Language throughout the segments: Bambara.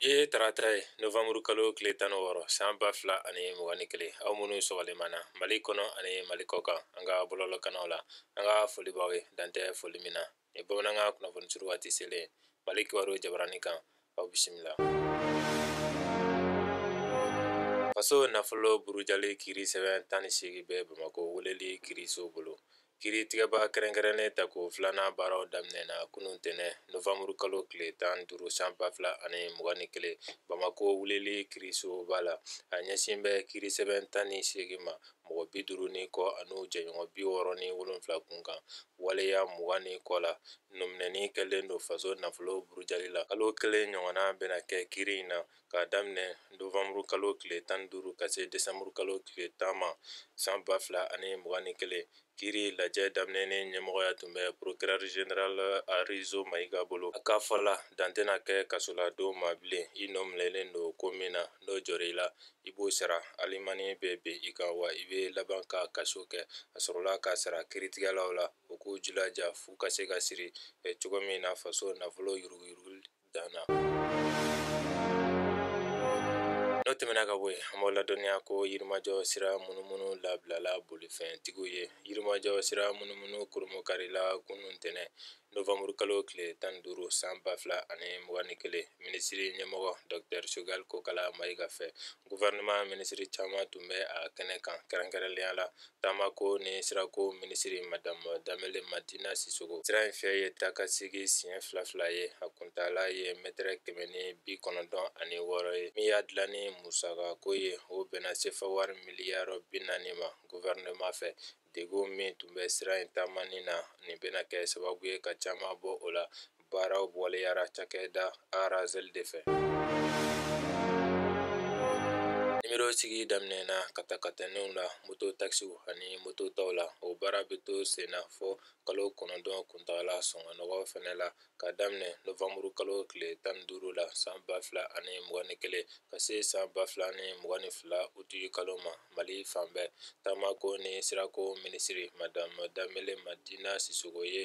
ye tarata ye novanburu kalo tile tan ni wɔɔrɔ san ba fila ani mugan ni kelen aw minnu sɔgɔlen b'an na mali kɔnɔ ani mali kɔ kan an ka bɔlɔlɔkanaw la an ka foli b'aw ye dantɛ foli min na ni bamanankan kunnafoni suru waati selen mali kibaru jabarani kan aw bisimila faso nafolo burujali kiri sɛbɛn tan ni seegin bɛ bamakɔ weleli kiriso bolo kiritigɛba kɛrɛnkɛrɛnnen tako filanan baaraw daminɛna kunun ntɛnɛn novanburu kalo tile tan duuru san ba fila ani mugan ni kelen bamakɔ weleli kirisoba la a ɲɛsin bɛ kiri sɛbɛn tan ni seegin ma mɔgɔ bi duuru ni kɔ an'u jɛɲɔgɔn bi wɔɔrɔ ni wolonfila kun kan waleya mugan ni kɔ la nɔminɛni kɛlen don faso nafolo burujali la kalo kelen ɲɔgɔnna bɛna kɛ kiri in na k'a daminɛ novanburu kalo tile tan ni duuru ka se desanburu kalo tile tan ma san ba fila ani mugan ni kelen kiri lajɛ daminɛni ɲɛmɔgɔya tun bɛ procureur general arizo mayiga bolo a ka fɔ la dan tɛna kɛ kasoladon ma bilen i nɔminɛlen don ko min na n'o jɔr'i la i b'o sara alimani bɛ ben i kan wa i bɛ laban ka kaso kɛ a sɔrɔla k'a sara kiritigɛlaw la u k'u jilaja f'u ka se ka siri eh, cogo min na faso nafolo yuruguyurugu dan na n'o tɛmɛna ka bɔ yen an b'aw ladɔnniya ko yirimajɔ sira munumunu labilala bolifɛntigiw ye yirimajɔ sira munumunu kurunbonkarila kunun ntɛnɛn novanburu kalo tile tan ni duuru san ba fila ani mugan ni kelen minisiri ɲɛmɔgɔ dɔktɛr choguel kokala mayiga fɛ guvɛrɛnɛman minisiri caman tun bɛ a kɛnɛ kan kɛrɛnkɛrɛnlenya la taamako ni sirako minisiri madamu danbele madina sisoko sira in fyɛ ye taakasegin siɲɛ fila fila ye a kuntaala ye mɛtɛrɛ kɛmɛ ni bi kɔnɔntɔn ani wɔɔrɔ ye min y'a dilanni musakako ye o bɛnna sefa wari miliyari bi naani ma guvɛrɛnɛman fɛ degun min tun bɛ sira in taamani na nin bɛna kɛ sababu ye ka caman bɔ o la baaraw waleyara cakɛda razeli de fɛ nimero sigi daminɛna katakataniw la moto takisiw ani moto tɔw la o baara bɛ to senna fɔ kalo kɔnɔntɔn kuntagala sɔngɔ nɔgɔ fɛnɛ la k'a daminɛ novanburu kalo tile tan ni duuru la san ba fila ani mugan ni kelen ka se san ba fila ni mugan ni fila uti kalo ma mali fan bɛɛ taamako ni sirako minisiri madame danbele madina sisoko ye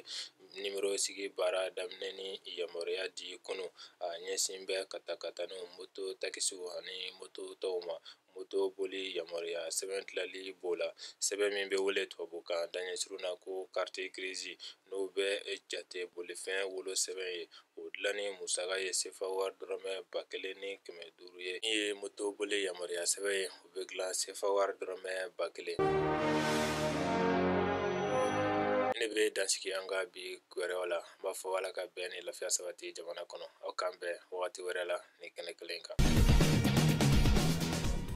nimerosigi baara daminɛni yamaruya di kunun a ɲɛsin bɛ katakataniw moto takisiw ani moto tɔw ma moto boli yamaruya sɛbɛn tilali b'o la sɛbɛn min bɛ wele tubabukan daɲɛsurun na ko carte grise n'o bɛ jate bolifɛn wolo sɛbɛn ye o dilanni musaka ye sefa wari dɔrɔmɛ ba kelen ni kɛmɛ duuru ye min ye moto boli yamaruya sɛbɛn ye O bɛ dilan sefa wari dɔrɔmɛ ba kelen ne bɛ dan sigi an ka bi gɛrɛ la n b'a fɔ ala ka bɛn ni lafiya sabati jamana kɔnɔ aw k'an bɛn wagati wɛrɛ la nin kɛnɛ kelen kan